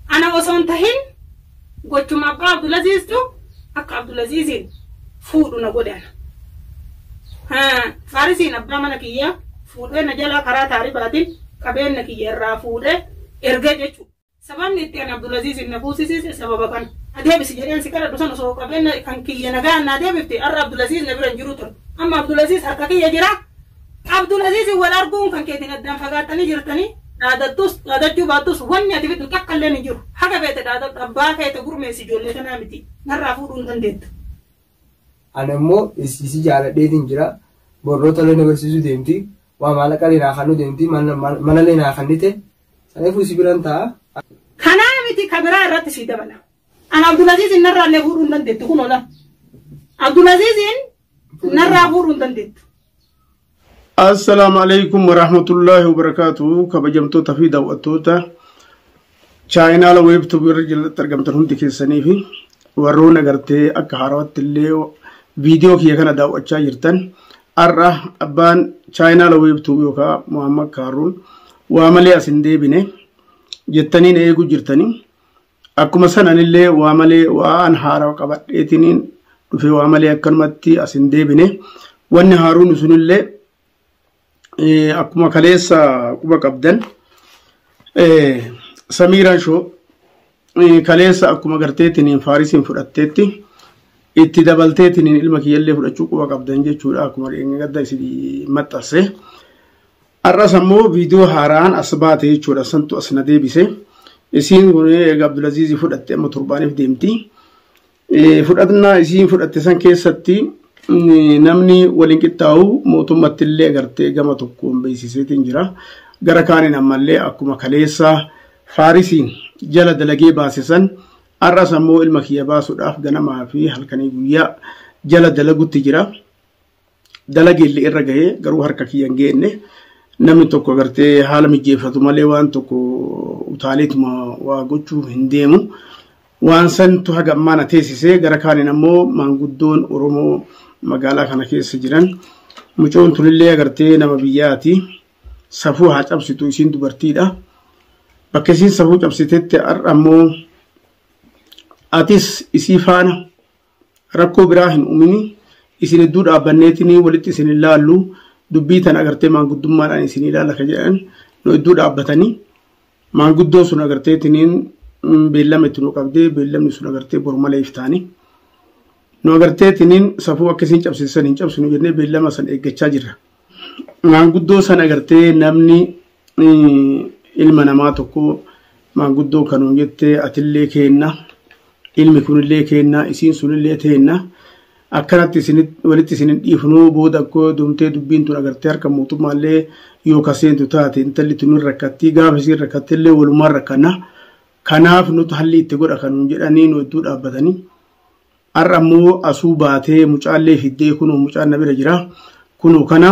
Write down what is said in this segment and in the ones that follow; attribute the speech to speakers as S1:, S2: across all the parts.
S1: Ana osoo hin tahin gochuma abbaa Abdulaziiztu akka Abdulaziiziin fuudhu na godhe ana. Haa, Faarisiin abbaa mana kiyyaa fuudhee na jalaa karaa taaribaatiin qabeenya kiyya irraa fuudhee ergee jechuudha. Sababni itti ani Abdulaziiziin na fuusisiise sababa kana. Na deebisi jedheen si kadhadhu san osoo qabeenya kan kiyya nagaan naa deebifte har'a Abdulaziiz na bira hin jiru ture. Amma Abdulaziiz harka kiyya jira. Abdulaziiziin wal arguun kan keetiin addaan fagaattanii jirtanii dhaadattus dhaadachuu baattus wanni ati fiddu takka illeen hin jiru. Haga feete dhaadadhu abbaa feete gurmeessi ijoollee tanaa miti narraa fuudhuu hin dandeettu.
S2: Ani ammoo isii si jaaladheetiin jira borroo tolee na barsiisuu deemti waa maallaqalee naa kannuu deemti mana- mana- manalee naa kannite saniifuu si biran ta'a. Kanaa
S1: miti ka biraa irratti sii dabala. An Abdulaziiziin narraa illee fuudhuu hin dandeettu kun ola. Abdulaziiziin Narraa guuruu hin dandeettu.
S3: Assalaamu alaikum warahmatullaahi wabarakaatu kabajamtoota fi daawwattoota chaayinaala weebtuubii irra jalatti argamtan hundi keessanii fi warroon agartee akka haarawatti illee viidiyoo kiyya kana daawwachaa jirtan har'a abbaan chaayinaala weebtuubii yookaan Muhammad Kaaruun waa malee as hin deebine jettaniin eeguu jirtanii Akkuma san anillee waa malee waan haarawa qabadheetiniin dhufee waa malee akkanumatti as hin deebine. Wanni haaruun sunillee akkuma kaleessa quba qabdan Samiiraan shoo kaleessa akkuma garteetiniin faarisiin fudhatteetti itti dabalteetiniin ilma kiyyallee fudhachuu quba qabdan jechuudha akkuma dheengadda isin maxxanse. Har'as ammoo viidiyoo haaraan as baate jechuudha santu as na deebise. Isiin kun egaa Abdulaziizii fudhatte amma torbaaniif deemti. Fudhannaa isiin fudhatte san keessatti namni waliin qixxaa'u mootummatti illee gartee gama tokkoon beeksiseetiin jira. Gara kaaniin ammallee akkuma kaleessaa faarisiin jala dalagee baase san har'as ammoo ilma kiyya baasuudhaaf ganamaa fi halkanii guyyaa jala dalagutti jira. dalageellee irra gahee garuu harka kiyya hin geenne namni tokko gartee haala mijeeffatu malee waan tokko utaaleetuma waa gochuu hin deemu. Waan santu haga ammaa na teessisee gara kaaniin ammoo maanguddoon Oromoo magaalaa kana keessa jiran mucoon tulillee agartee nama biyyaati safuu haa cabsitu isiin dubartiidha. Bakka isiin safuu cabsitetti har'a ammoo atis isii faana rakkoo biraa hin uumini isin hedduu dhaabbanneetinii walitti isin hin laallu dubbii tan agartee maanguddummaadhaan isin ilaalla ka jedhan nu hedduu dhaabbatanii maanguddoo sun agarteetiniin beellama itti nu qabdee beellamni sun agartee boru malee iftaanii nu agarteetiniin safuu akka isin cabsisan hin cabsinu jennee beellama san eeggachaa jirra. Maanguddoo sana gartee namni ilma namaa tokko maanguddoo kanuun jettee atillee keenna ilmi kunillee keenna isiin sunillee teenna akkanatti walitti isin hin dhiifnuu booda akkoo dumtee dubbiin tun agartee harka mootummaallee yoo kaseentu taate intalli tun hin rakkattii gaafa isiin rakkattillee walumaan rakkanna kanaaf nuti halli itti godha kanuun jedhanii nu hedduu dhaabbatanii. Har'a ammoo asuu baatee mucaallee fiddee kunoo mucaan na bira jira. Kunoo kana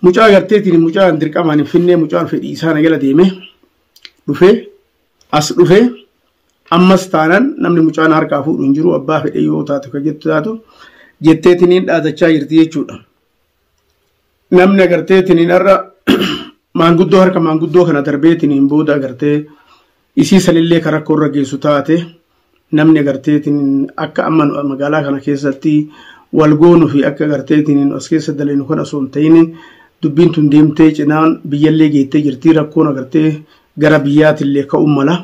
S3: mucaa garteetiin mucaan dirqamaan hin finnee mucaan fedhii isaa na jala deeme dhufe as dhufe ammas taanaan namni mucaan harkaa fuudhu hin jiru abbaa fedhee yoo taatu kan jettu taatu jetteetiin dhaadachaa jirti jechuudha. Namni agarteetiniin har'a maanguddoo harka maanguddoo kana darbeetiniin booda agartee isii sanillee kan rakkoo irra geessu taate namni agarteetiniin akka amma nu- magaalaa kana keessatti wal goonu fi akka agarteetiniin as keessa dalinu kan osoo hin ta'in dubbiin tun deemtee cinaan biyyallee geettee jirti rakkoon agartee gara biyyaatillee ka'uu mala.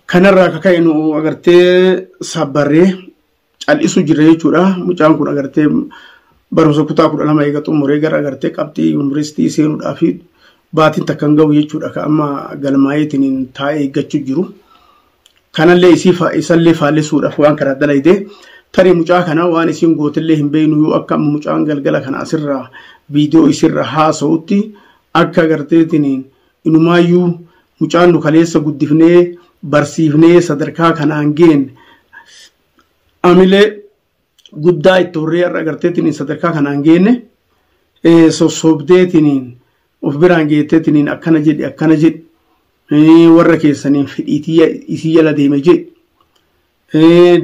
S3: Kanarraa akka ka'e nu agartee sabbarree cal'isu jirra jechuudha. Mucaan kun agartee barumsa kutaa kudha lama eega xumuree gara agartee qabxii yuunivarsiitii seenuudhaa fi baatiin takka hin gahu jechuudha. Ka amma galmaa'eetiin taa'ee eeggachuu jiru. Kanallee isallee faallessuudhaaf waan karaa dalaydee tarii mucaa kana waan isiin gootillee hin beeknu yoo akka amma mucaan galgala kana asirraa viidiyoo isirra haasa'utti akka agarteetiin Inumaayyuu mucaan nu kaleessa guddifnee barsiifnee sadarkaa kanaan geenne amilee guddaa itti horree har'a agarteetiin sadarkaa kanaan geenne sossobdeetiin of biraan geetteetiin akkana jedhi akkana jedhi warra keessaniin fedhiitii isii jala deeme jedhi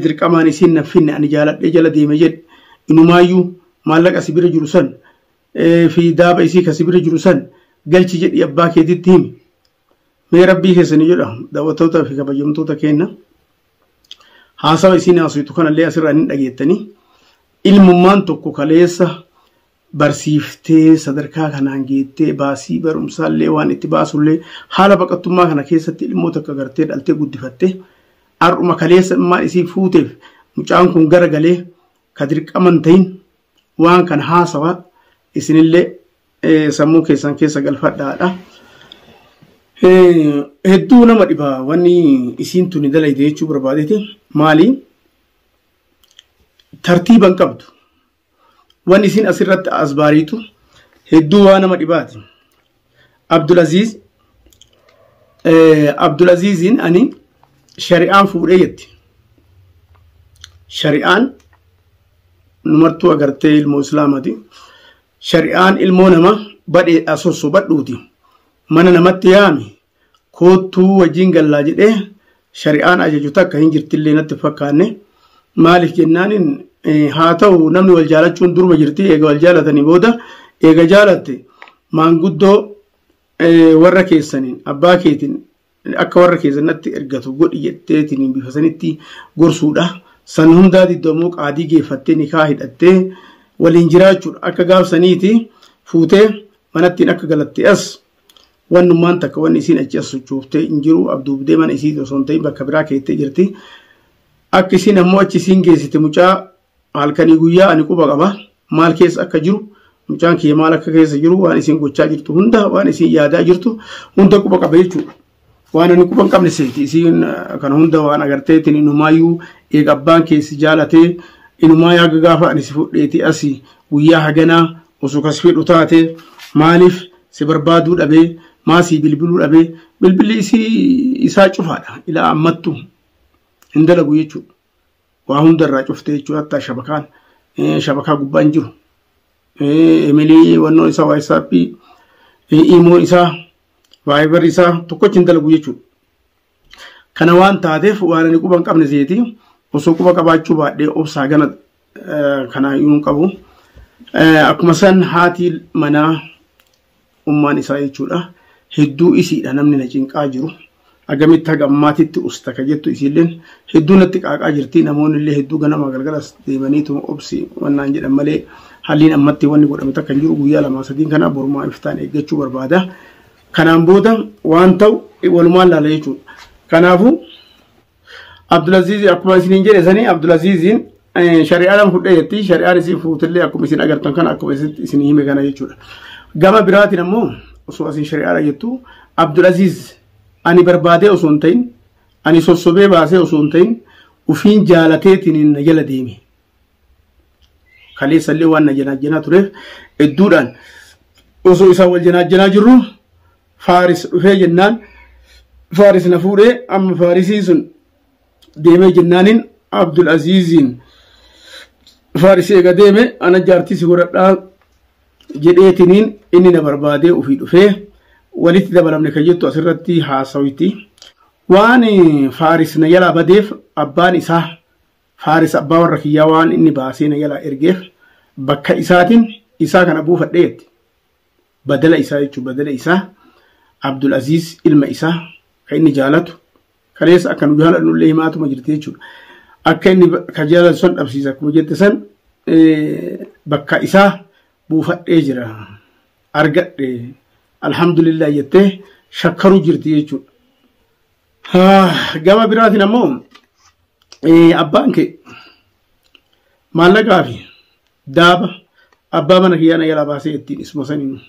S3: dirqamaan isiin naffinne ani jaaladhee jala deeme jedhi inumaayyuu maallaqa si bira jiru san fi daaba isii kasi bira jiru san galchi jedhi abbaa keetitti himi mee rabbii keessani jedha daawwattoota fi kabajamtoota keenna haasawa isiin haasoftu kanallee asirraa hin dhageettanii ilmummaan tokko kaleessa barsiiftee sadarkaa kanaan geettee baasii barumsaallee waan itti baasullee haala baqattummaa kana keessatti ilmoo takka gartee dhaltee guddifatte har'uma kaleessa immaa isii fuuteef mucaan kun gara galee ka dirqaman ta'in waan kan haasawa isinillee sammuu keessan keessa galfadhaadha. Hedduu nama dhiba wanni isiin tuni dalayde jechuu barbaadeti maali tartiiban qabdu wanni isiin asirratti as baariitu hedduu waa nama dhibaati. Abdulaziz Abdulaziziin ani shari'aan fuudhee jetti. Shari'aan numartuu agartee ilmoo islaamati. Shari'aan ilmoo nama badheedhaa sossobadhuuti. Mana namatti yaami. koottuu wajjin gallaa jedhee shari'aan ajaju takka hin jirtillee natti hin fakkaanne maaliif jennaaniin haa ta'u namni wal jaalachuun duruma jirti eega wal jaalatanii booda eega jaalatte maanguddoo warra keessaniin abbaa keetiin akka warra keessanatti ergatu godhi jetteetiin bifa sanitti gorsuudha. San hundaa diddamoo qaadii geeffattee nikaa hidhattee waliin jiraachuudha. Akka gaafsaniiti fuutee manattiin akka galatte as Wannummaan takka wanni isiin achi as sochooftee hin jiru abduubdee mana isii osoo hin ta'in bakka biraa keettee jirti. Akka isiin ammoo achi isiin geessite mucaa halkanii guyyaa ani quba qaba maal keessa akka jiru mucaan kiyya maal akka keessa jiru waan isiin gochaa jirtu hunda waan isiin yaadaa jirtu hunda quba qaba jechuudha. Waan inni quba hin qabne seeti isiin kana hunda waan agarteetiin inumaayyuu eega abbaan keessi jaalatee inumaa yaaga gaafa ani si fudheeti asi guyyaa haganaa osoo kas fedhu taate maaliif si barbaaduu dhabee maa sii bilbiluu dhabee bilbilli isii isaa cufaadha ilaa ammattu hin dalagu jechuudha. Waa hundarraa cuftee jechuudha hatta shabakaan shabakaa gubbaa hin jiru. Emilii wannoo isaa waayisaappi imoo isaa Viber isaa tokkochi hin dalagu jechuudha. Kana waan taateef waan ani quba hin qabne seeti osoo quba qabaachuu baadhee obsaa gana kana iyyuu hin qabu. Akkuma san haati manaa ummaan isaa jechuudha. Hedduu isiidha namni na cinqaa jiru. Agamitti haga ammaatitti usta ka jettu isiilleen hedduu natti qaaqaa jirti namoonni illee hedduu ganamaa galgalas deemaniitu obsi wannaan jedhan malee halliin ammatti wanni godhame takka hin jiru guyyaa lamaa sadiin kana borumaa iftaan eeggachuu barbaada. Kanaan booda waan ta'u walumaan laala jechuudha. Kanaafuu Abdulaziz akkuma isiniin jedhe sanii Abdulaziziin shari'aadhaan fudhee jetti shari'aan isin fuutillee akkuma isin agartan kana akkuma isin hime kana jechuudha. Gama biraatiin ammoo osoo isin shari'aadha jettu Abdulaziz ani barbaadee osoo hin ta'in ani sossobee baasee osoo hin ta'in ufiin jaalateetiin na jala deeme. kaleessallee waan na janaajjanaa tureef hedduudhaan osoo isaa wal janaajjanaa jirru faaris dhufee jennaan faaris na fuudhee amma faarisii sun deemee jennaaniin abdul aziiziin faaris eega deeme ana jaartii si godhadhaa jedheetiniin inni na barbaadee ofii dhufee walitti dabalamne kan jettu asirratti haasawiti waan faaris na jalaa badeef abbaan isaa Faaris abbaa warra kiyyaa waan inni baasee na jalaa ergeef bakka isaatiin isaa kana buufadhe jetti. Badala isaa jechuun badala isaa Abdul Aziz ilma isaa kan inni jaalatu kanees akka nu jaalannu illee himaatuma jirti jechuudha. Akka inni ka jaalatu san dhabsiisa akkuma jette san bakka isaa buufadhee jira argadhe alhamdulillah jettee shakkaruu jirti jechuudha. Gama biraatiin ammoo abbaan kee maallaqaa fi daaba abbaa mana kiyyaa na jalaa baasee ittiin isuma saniin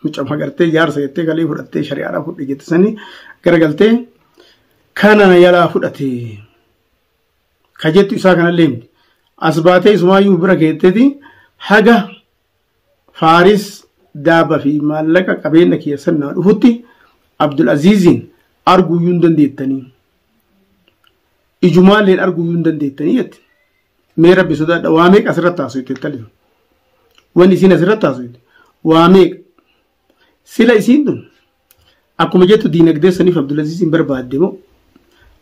S3: mucaa magartee jaarsa jettee galee fudhattee shari'aadhaa fudhe jette sanii garagaltee kana na jalaa fudhate ka jettu isaa kanallee miti as baatee isumaayyuu bira keetteeti haga Faaris daaba fi maallaqa qabeenna kiyya san naa dhufutti Abdul Aziiziin arguuyyuu hin dandeettanii. Ijumaalleen arguuyyuu hin dandeettanii jette. Mee rabbi sodaadha waa meeqa asirratti haasofte intalli sun. Wanni isiin asirratti haasofte waa meeqa. Sila isiin tun Akkuma jettu diinagdee saniif Abdulaziz hin barbaadde moo?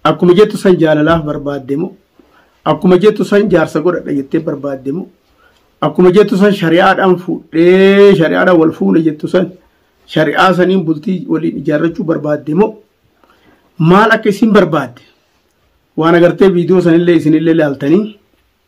S3: Akkuma jettu san jaalalaaf barbaadde moo? Akkuma jettu san jaarsa godhadha jettee barbaadde moo? Akkuma jettu san shari'aadhaan fuudhee shari'aadhaan wal fuune jettu san shari'aa saniin bultii waliin ijaarrachuu barbaadde moo? Maal akka isin barbaadde? Waan agartee viidiyoo sanillee isinillee laaltanii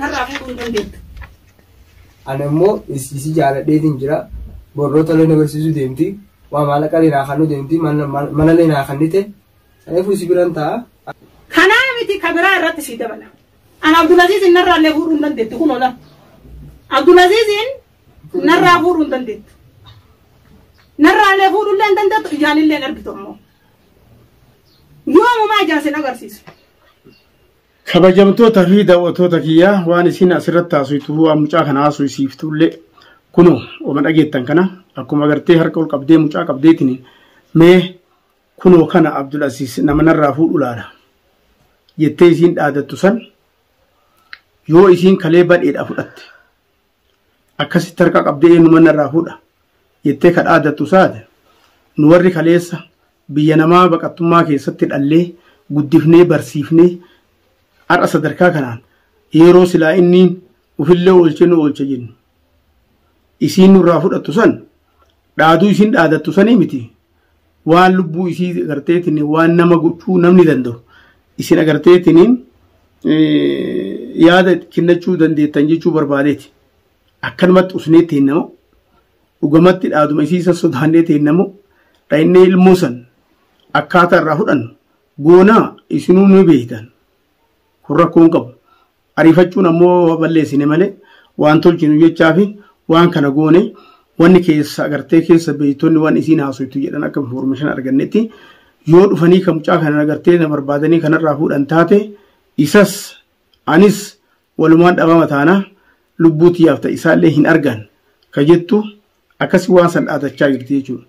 S1: Narraa fuudhuu hin dandeettu.
S2: Ana immoo isiisii jaaladheetiin jira. Borroota illee na barsiisuu deemti. Waa maallaqa illee naa kannuu deemti. Mana mana illee naa kannite. Kanaafuu isi biran ta'a. Kanaa miti
S1: ka biraa irratti sii dabala. An Abdulaziiziin narraa illee fuudhuu hin dandeettu kun ola. Abdulaziiziin narraa fuudhuu hin dandeettu. Narraa illee fuudhuu illee hin dandeettu ijaan illee hin argitu ammoo. Yoomumaa ijaan sin agarsiisu. Kabajamtoota
S3: fi daawwattoota kiyya waan isin asirratti haasoftu waan mucaa kana haasofsiiftu illee kunoo oma dhageettan kana akkuma agartee harka ol qabdee mucaa qabdeetiin mee kunoo kana Abdul Asiis nama narraa fuudhu laala jettee isiin dhaadattu san yoo isiin kalee badheedha fudhatte akkasitti harka qabdee eenyu manna irraa fuudha jettee ka dhaadattu saate nu warri kaleessa biyya namaa baqattummaa keessatti dhallee guddifnee barsiifnee har'a sadarkaa kanaan yeroo silaa inniin ofillee oolchee nu oolcha jennu isiin nurraa fudhattu san dhaaduu isiin dhaadattu sanii miti waan lubbuu isii agarteetiin waan nama gochuu namni danda'u isin agarteetiin yaada kennachuu dandeettan jechuu barbaadeeti akkanumatti usnee teennamu dhugamatti dhaaduma isii san sodaannee teennamu dha'innee ilmoo san akkaataa irraa fudhannu goonaa isinuu ni beektan kun rakkoon qabu Ariifachuun ammoo balleessine malee waan tolchinu jechaa fi waan kana goone wanni keessa agartee keessa beeytonni waan isiin haasoftu jedhan akka information argannetti yoo dhufanii kan mucaa kana agartee na barbaadanii kanarraa fuudhan taate isas anis walumaan dhabama taana lubbuu tiyyaaf ta'e isaallee hin argan ka jettu Akkasi waan san dhaadachaa jirti jechuudha.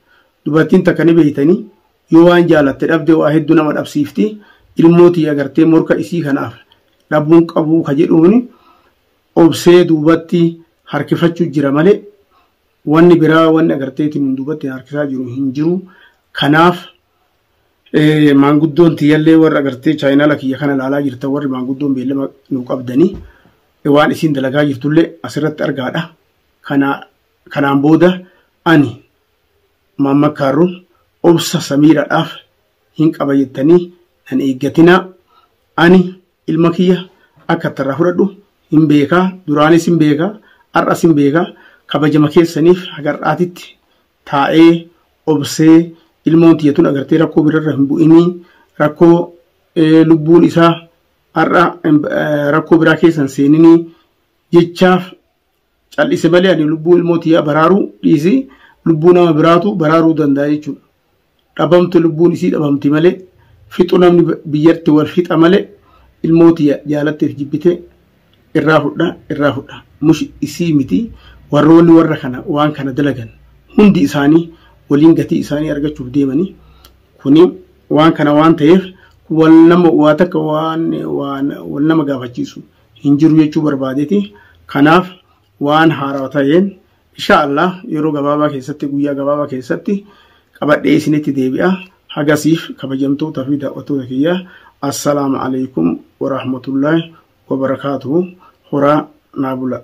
S3: Dubartiin takka ni beeytanii yoo waan jaalatte dhabde waa hedduu nama dhabsiifti ilmoo tiyya agartee morka isii kanaaf dhabuun qabuu ka jedhuuni obsee duubatti harkifachuu jira malee wanni biraa wanni agarteetiin hin duubatti harkisaa jiru hin jiru. Kanaaf maanguddoon tiyyallee warra agartee chaayinaala kiyya kana ilaalaa jirta warri maanguddoon beellama nu qabdanii waan isiin dalagaa jirtullee asirratti argaadha. Kana kanaan booda ani Maamma Kaarruun obsa Samiiradhaaf hin qaba jettanii nan eeggatinaa. Ani ilma kiyya akka ittarraa fudhadhu hin beekaa. Duraanis hin beekaa. Har'as hin beekaa. Kabajama keessaniif haga har'aatitti taa'ee obsee ilmoon tiyya tun agartee rakkoo birarra hin bu'inii rakkoo eh, lubbuun isaa har'a eh, rakkoo biraa keessa hin seeninii jechaaf Cal'ise malee ani lubbuu ilmoo tiyyaa baraaruu dhiisi lubbuu nama biraatu baraaruu danda'a jechuudha. Dhabamtu lubbuun isii dhabamti malee fixu namni biyyatti wal fixa malee ilmoo tiyya jaalatteef jibbite irraa fudha irraa fudha mush isii miti warroonni warra kana waan kana dalagan hundi isaanii waliin gatii isaanii argachuuf deemanii kuni waan kana waan ta'eef wal nama waa takka waan wal nama gaafachiisu hin jiru jechuu barbaadeti. Kanaaf waan haarawa ta'een insha Allah yeroo gabaabaa keessatti guyyaa gabaabaa keessatti qabadhee isinitti deebi'a. Hagasiif kabajamtoota fi daawwattoota kiyya assalaamu alaikum wa rahmatullahi wa barakaatuhu horaa naa bula.